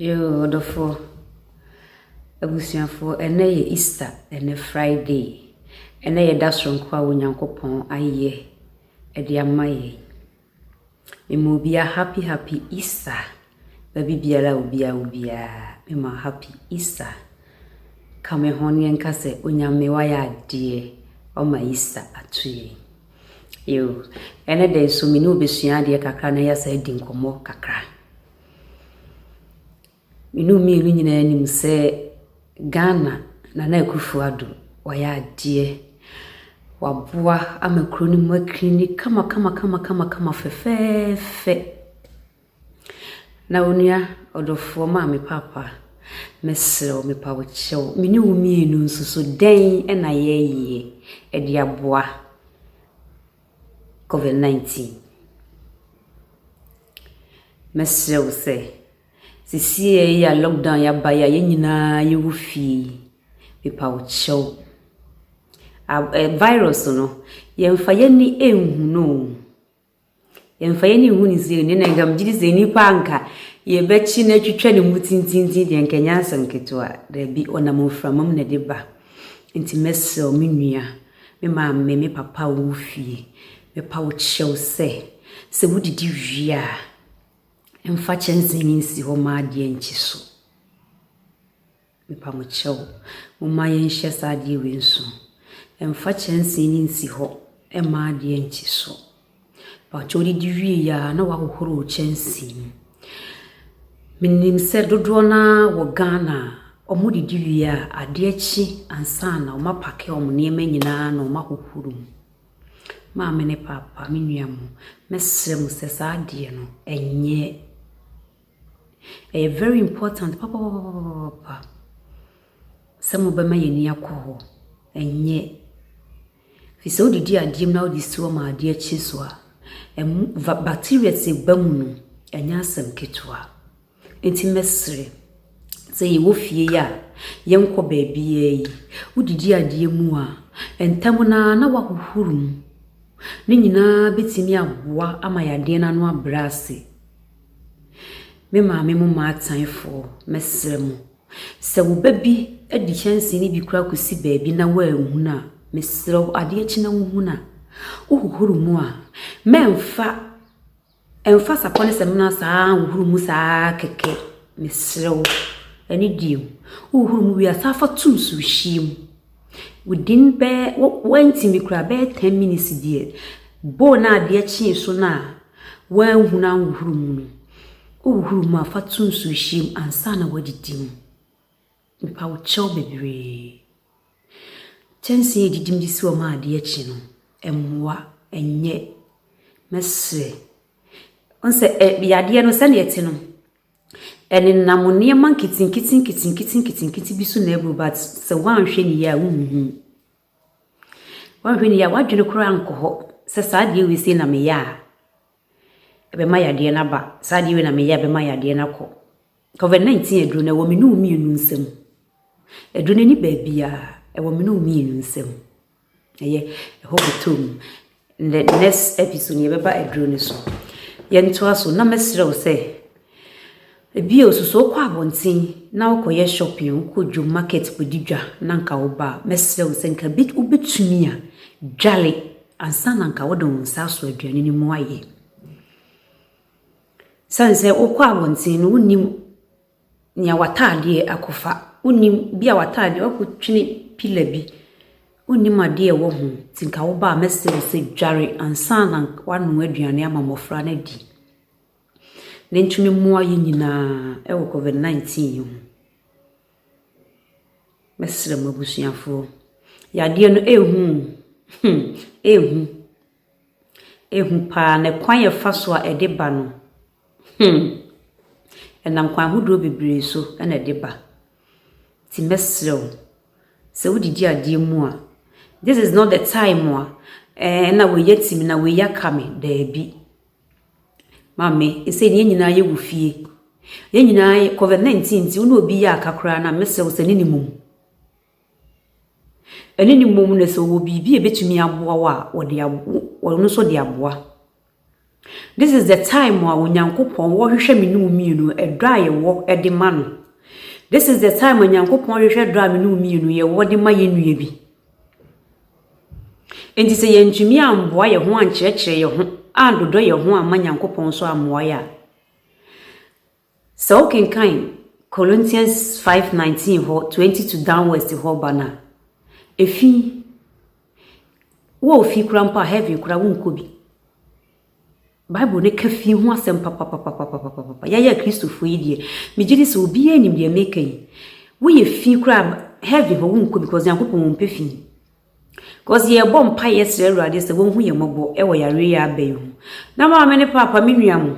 Yoo, ɔdɔfoɔ, abusuafoɔ, ɛnɛ yɛ Easter, ɛnɛ Friday, ɛnɛ yɛ da soronko a Onyankopɔn ayɛ ɛde ama yɛn. Mema obiara happy happy Easter. Baabi biara a obiara wɔ biara, mema happy Easter. Ka me ho na yɛnka sɛ, Onyame wayɛ adeɛ, wama Easter ato yɛn. Yo, ɛnɛ da yi nso me ne wo bɛsua adeɛ kakra na yɛasan adi nkɔmmɔ kakra. Me ne wo mmienu nyinaa nim sɛ Ghana Nana Akufo Addo wayɛ adeɛ. Waboa ama kuro no mu akiri ni kamakamakamakama fɛfɛɛfɛ. Na onua ɔdɔfoɔ Maame Paapa, mɛsrɛ wo mepa wo kyɛw, me ne wo mmienu nso so dɛn na yɛyɛ de aboa Covid 19? Mɛsrɛ wo sɛ. Sesei a lockdown yi aba yi a, yɛn nyinaa yɛwɔ fie yi, mepa wo kyɛw, ab ɛ virus no, yɛmfa yɛn ani nhu no o. Yɛmfa yɛn ani nhu no sei o, nneɛ na nka megye di sɛ nnipa a nka yɛbɛkye no atwitwa ne mu tintintinn deɛ, nka ɛnyɛ asɛm ketewa. Dabi, ɔnam mframa mu na ɛde ba. Nti mɛsrɛ wo me nua, me maame, me papa a wɔwɔ fie, mepa wo kyɛw sɛ, sɛ wodidi wie a, Mfa kyɛnsee no nsi hɔ ma adeɛ nnkye so. Mepa mo kyɛw, momma yɛnhyɛ saa adeɛ wei nso. Mfa kyɛnsee no nsi hɔ ma adeɛ nnkye so. Mepa kyɛw didi wie yɛ a na wahohoro wo kyɛnsee mu. Menim sɛ dodoɔ no ara wɔ Ghana a, wɔdidi wie a, adeɛ kye ansa na wɔapake wɔn nneɛma nyinaa na wɔahohoro mu. Maame ne papa, me nua mo, mɛsrɛ mo sɛ saa adeɛ no, ɛnyɛ. Ɛyɛ very important papapapapapa sɛ mobɛma yɛn ani akɔ hɔ. Ɛnyɛ. Ɛfiri sɛ wode di adeɛ mu na wode si hɔ ma adeɛ kye so a, ɛmo va bacterias a ɛba mu no, ɛnyɛ asɛm ketewa. Enti mɛsrɛ sɛ yɛwɔ fie yi a, yɛnkɔ baabiara yi. Wodidi adeɛ mu a, ntɛm no ara na woahohoro mu. Ne nyinaa bɛtumi aboa ama yadeɛ no ano abrɛ ase. Me maame mo maataefoɔ, mɛsrɛ mo, sɛ wo ba bi de kyɛnsee no bi koraa kɔsi baabi na woanhunu a, mesrɛ wo, adeɛ kye na wohunu a, wohohoro mu a, mɛmfa. Ɛmfa sapɔ ne samina saa ara nhohoro mu saa ara kɛkɛ, mesrɛ wo. Ɛno deɛ o, wohohoro mu wie a, san fa to nsuhyeɛ mu. Within bɛyɛ, woantumi koraa a, bɛyɛ ten minutes deɛ, bowl no a adeɛ kyee so no a woanhunu anhohoro mu no, wohohoro mu a, fa to nsuhyeɛ mu ansa na woadidi mu. Mepaw kyɛw bebree. Kyɛnsee a edidi mu de si hɔ ma ade akye no, mmoa, ɛnyɛ. Mɛsrɛ. Wohu sɛ ɛ yadeɛ no sɛnea ɛte no, ɛnenam nneɛma nketenkete nketenkete nketenkete bi so na ɛboro but sɛ woanhwɛ no yie a wonhu. Woanhwɛ no yie a w'adwene koraa nkɔ hɔ sɛ saa adeɛ wei sei na meyɛ a. ɛbɛma yadeɛ no aba. Saa adeɛ wei na meyɛ a ɛbɛma yadeɛ no akɔ. Covid 19 aduro no ɛwɔ me ne wo mmienu nsam. Aduro no ɛnni baabiara, ɛwɔ me ne wo mmienu nsam. Ɛyɛ ɛhɔ bɛtɔ mu. In the next episode no yɛbɛba aduro no so. Yɛntoa so na mɛsrɛ wo sɛ, Bio so, sɛ wokɔ abɔnten na wokɔyɛ shopping, wokɔ dwom market kɔdi dwa na nka woba a, mɛsrɛ wo sɛ nka bi wobɛtumi a dwale ansa na nka wode wo nsa aso aduane no mu ayɛ. Sane sɛ wokɔ abɔnten no wonim nea w'ataadeɛ akɔfa, wonim bi a w'ataadeɛ wakɔtwene pila bi, wonim adeɛ a ɛwɔ ho nti nka woba a mɛsrɛ wo sɛ dware ansa na woanoa aduane ama mmɔfra no adi. na ɛntumi mmoa yɛn nyinaa wɔ Covid 19 yi ho. Mɛsrɛ m'abusuafoɔ, yadeɛ no ɛrehu o, hmm, ɛrehu, ɛrehu pa ara na kwan a ɛfa so a ɛde ba no, hmm, ɛnam kwan ahodoɔ bebree so na ɛde ba. Nti mɛsrɛ wo, sɛ wodidi adeɛ mu a, this is not the time a, ɛɛ, na wei atimi, na wei aka me, daabi. Maame, ɛsɛ yɛn nyinaa yɛwɔ fie. Yɛn nyinaa yɛ Covid 19 nti, wo ne obi yɛ aka koraa no a, mɛsrɛ wo sɛ ne no mmom. Ɛne no mmom na sɛ ɔwɔ biribi a ɛbɛtumi aboa wo a, ɔde abo ɔno nso de aboa. This is the time a Onyankopɔn ɔrehwehwɛ me ne wo mmienu, ɛdɔ a yɛwɔ de ma no. This is the time a Onyankopɔn rehwehwɛ dɔ a me ne wo mmienu yɛwɔ de ma yɛn nua bi. Enti sɛ yɛantumi ammoa yɛn ho ankyerɛkyerɛ yɛn ho andodɔ yɛn ho amma Nyankopɔn nso ammoa yɛn a, sɛ wokenkan Corinthians 5:19 hɔ, 22 downwards hɔ ba no a, efi wɔ ofi kora mpo a, heaven kora wonkɔ bi. Bible no ka fie ho asɛm papapapapapapa. Yɛyɛ Kristofo yi deɛ, megye di sɛ obiara nim deɛ meka yi. Woyɛ fi koraa heaven hɔ wonkɔ because Nyankopɔn ɔmpɛ fi. Because yɛbɔ mpa yɛ srɛ Awurade sɛ wɔnhu yɛn mmɔbɔ wɔ yareɛ yɛ aba yi ho. Na maame ne paapa me nua mo.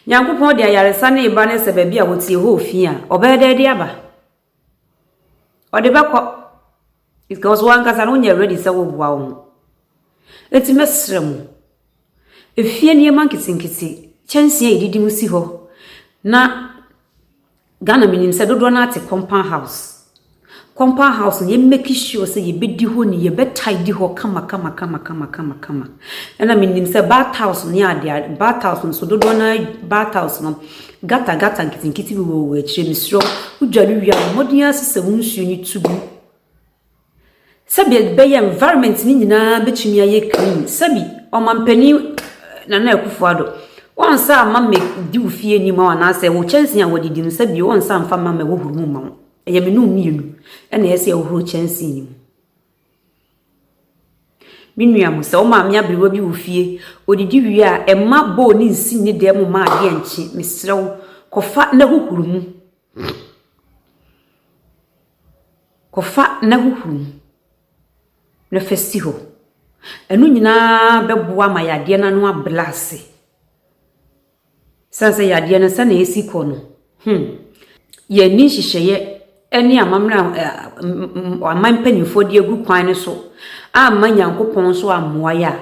Nyankopɔn de ayaresa ne ba ne sɛ baabi a wɔtie hɔ ofi a, ɔbɛyɛ dɛ de aba. Ɔde bɛkɔ because wo ankasa no wonyɛ ready sɛ woboa wo ho. Enti mɛsrɛ mo, efie nneɛma nketenkete, kyɛnsee a yɛdidi mu si hɔ na Ghana menim sɛ dodoɔ no ara te compound house. Compound house no yɛmmɛki sure sɛ yɛbɛdi hɔ ni, yɛbɛtidy hɔ kamakamakamakama. Ɛna menim sɛ bath house ne adeade, bath house nso dodoɔ no ara bath house no Gutter gutter nketenkete bi wɔ w'akyire mesrɛ wo wodwa no wie a bɔ mmɔden ara sesa mu nsuo no tu gu sɛbi ɛbɛyɛ environment no nyinaa bɛtumi ayɛ clean sɛbi ɔmampanin Nana Akufo-Addo wɔnsa ama me di wo fie anim a anaasɛ wo kyɛnse a wɔde di no sɛbi wɔnsa mfa ma ma ɛhohoro mu ma wo ɛyɛ me no mmienu ɛna ɛsɛ ɛhohoro kyɛnse no mu Me nua mo sɛ wo maame aberewa bi wɔ fie, ɔdidi wie a, ɛmma bowl no nsi ne dan mu mma adeɛ nkye. Mesrɛ wo, kɔfa na hohoro mu. Kɔfa na hohoro mu na fa si hɔ. Ɛno nyinaa bɛboa ama yadeɛ no ano abrɛ ase. Esiane sɛ yadeɛ no sɛnea esi kɔ no, hmm, yɛnni nhyehyɛeɛ ne amammerɛ a eh, aman mpanimfoɔ de agu kwan no so amma Nyankopɔn nso ammoa yɛ a,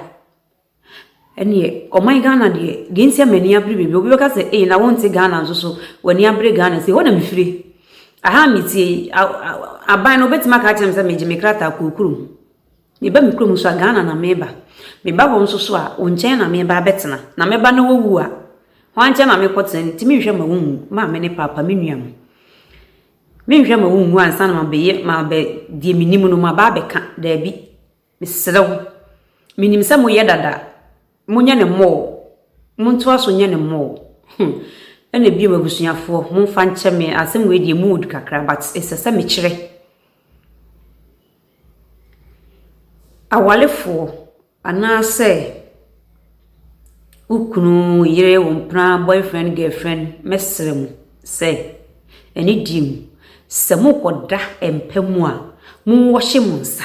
ɛneɛ ɔman Ghana deɛ deɛ nti a m'ani abere baabi obi bɛka sɛ ei na wonte Ghana nso so w'ani abere Ghana sɛ hɔ na mefire aha metie aban no wobɛtumi aka akyerɛ me sɛ megye me krataa kurokurom Meba me kurom nso a, Ghana na meba. Meba hɔ nso so a, wo nkyɛn na meba abɛtena. Na meba na wowu a, hwan nkyɛn na mekɔtena? Ne nti menhwɛ ma wonwu, maame ne paapa, me nua mo. Menhwɛ ma wonwu ansa na mabɛyɛ, mabɛ, deɛ menim no, maba abɛka. Daabi. Mesrɛ wo. Menim sɛ moyɛ dada. Monyɛ no mmɔɔ, montoa so nyɛ no mmɔɔ. Hmm. Ɛna bio abusuafoɔ, momfa nkyɛ me, asɛm wei deɛ mood kakra, but ɛsɛ sɛ mekyerɛ. Awalefoɔ anaasɛ wo kunu, yere, wo mpena, boyfriend, girlfriend, mɛsrɛ mo sɛ ɛne die mu, sɛ mokɔda mpa mu a, monwɔhye mo nsa.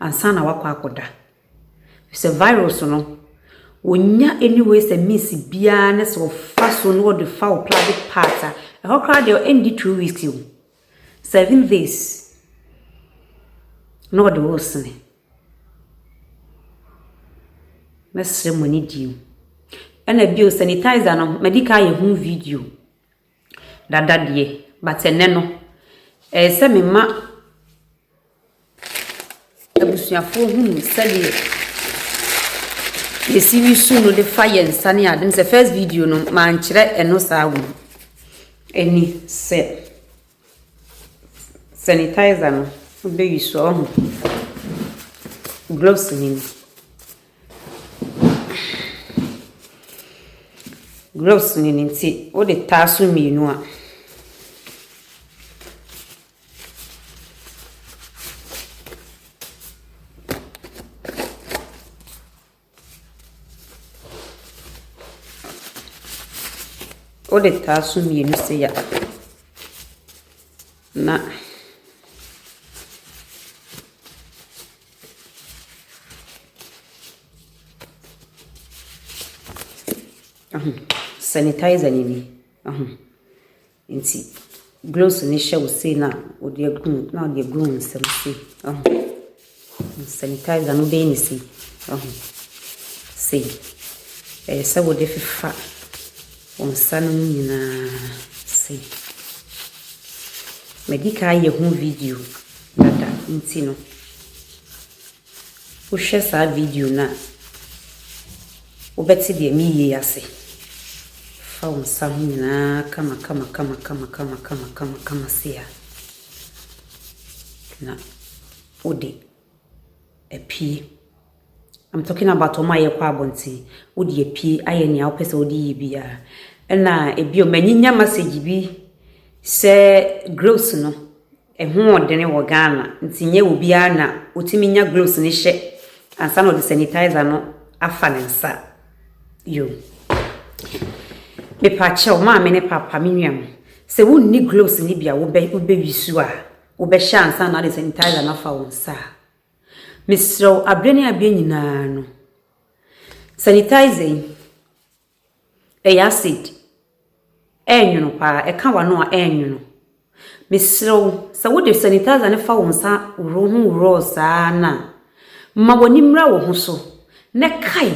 ansa na wakɔ akɔda. Sɛ virus no, wɔnnya any way sɛ means biara ne sɛ wɔfa so na wɔde fa wo private part a, ɛhɔ koraa deɛ ɛndi two weeks o. Seven days na wɔde wo resene. Mɛsrɛ mo ani die mu. Ɛna bio sanitizer no, madi kan ayɛ ho video. Dada deɛ, but ɛnnɛ no, ɛyɛ sɛ me ma abusuafoɔ hunu sɛdeɛ yɛsi wi su no de fa yɛn nsa ne ade. Sɛ first video no, mankyerɛ ɛno saa wɔ mu. Ɛni sɛ sanitizer no wobɛwi so a, ɔho gloves no ni. Gloves no ne ti, wode taa so mmienu a, wode taa so mmienu sei a, na Sanitizer no ni, nti gloves no hyɛ wo sei na wode agu mu na wode agu wo nsam sei. Sanitizer no wobɛyɛ no sei, sei. Ɛyɛ sɛ wode fefa wo nsa no mu nyinaa sei. Madi kan ayɛ ho video. dada nti no, wohwɛ saa video no a, wobɛte deɛ meyie ase. Fa wo nsa ho nyinaa kamakamakamakamakamakamakama sei a, na wode apue. I'm talking about wɔn a yɛkɔ abɔnten. Wode apue ayɛ nea wopɛ sɛ wode yɛ biara. Ɛna ebio manyinya message bi sɛ grills no Ɛho wɔ dene wɔ Ghana nti nyɛ obiara na ɔtumi nya gloves no hyɛ ansa na ɔde sanitizer no afa ne nsa. Yo. Mepakyɛw, maame ne papa, me nuam, sɛ wonni gloves no bi a wobɛ wobɛwi su a, wobɛhyɛ ansa na ade sanitizer no afa wo nsa a. Mesrɛw abere ne abere nyinaa no, sanitizer yi, Ɛyɛ acid. Ɛyɛ nwono paa. Ɛka w'ano a, ɛyɛ nwono. Mesrɛ wo, sɛ wode sanitizer no fa wo nsa woro ho woro saa no a, ma w'ani mmra wo ho so, na kae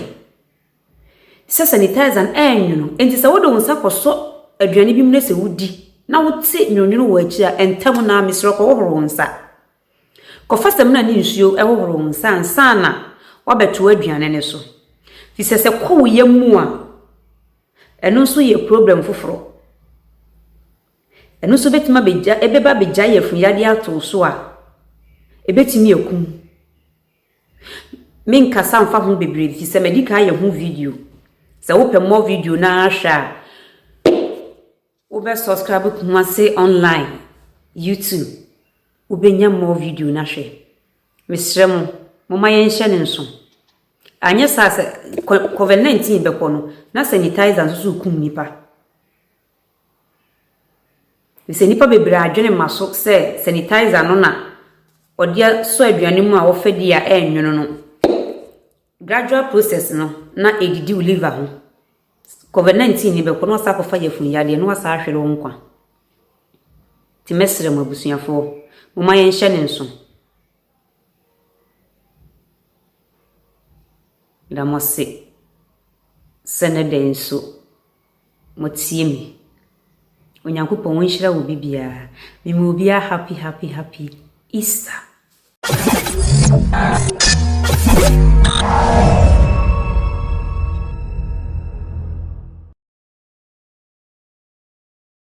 sɛ sanitizer no ɛyɛ nwono. Enti sɛ wode wo nsa kɔsɔ aduane bi mu na sɛ wodi na wote nwononwono wɔ akyiri a, ntɛm no ara mesrɛ kɔhohoro wo nsa. Kɔfa samina ne nsuo hohoro wo nsa ansa na woabɛto aduane no so. Fi sɛ sɛ kɔ wo yam mu a, ɛno nso yɛ problem foforɔ. Ɛno nso bɛtumi abɛgya, ɛbɛba abɛgyae afunuyadeɛ ato wo so a, ɛbɛtumi akum. Menkasa mfa ho bebree ɛfiri sɛ madi kan ayɛ ho video. Sɛ wopɛ mmɔ video no ara hwɛ a, Wo bɛ subscribe Kumasi online YouTube wo bɛ nya more video na hwɛ. Mesrɛ mo, mo ma yɛn hyɛ ne nso. Anyɛ saa sɛ covid 19 bɛkɔ no na sanitizer nso so kum nipa. Sɛ nipa bebree adwene ma so sɛ sanitizer no na ɔde asɔ aduane mu a wɔfɛ di a ɛnwono no. Gradual process no na edidi wo liver ho. Covid 19 ni bɛkɔ na wasa akɔfa yafun yadeɛ na wasa ahwere wo nkwa. Ti mɛsrɛ mo abusuafoɔ, mo ma yɛnhyɛ ne nso. Meda mo ase sɛ ne dɛn nso. Motie me. Onyankopɔn nhyira obi biara. Me ma obi a happy happy happy Easter.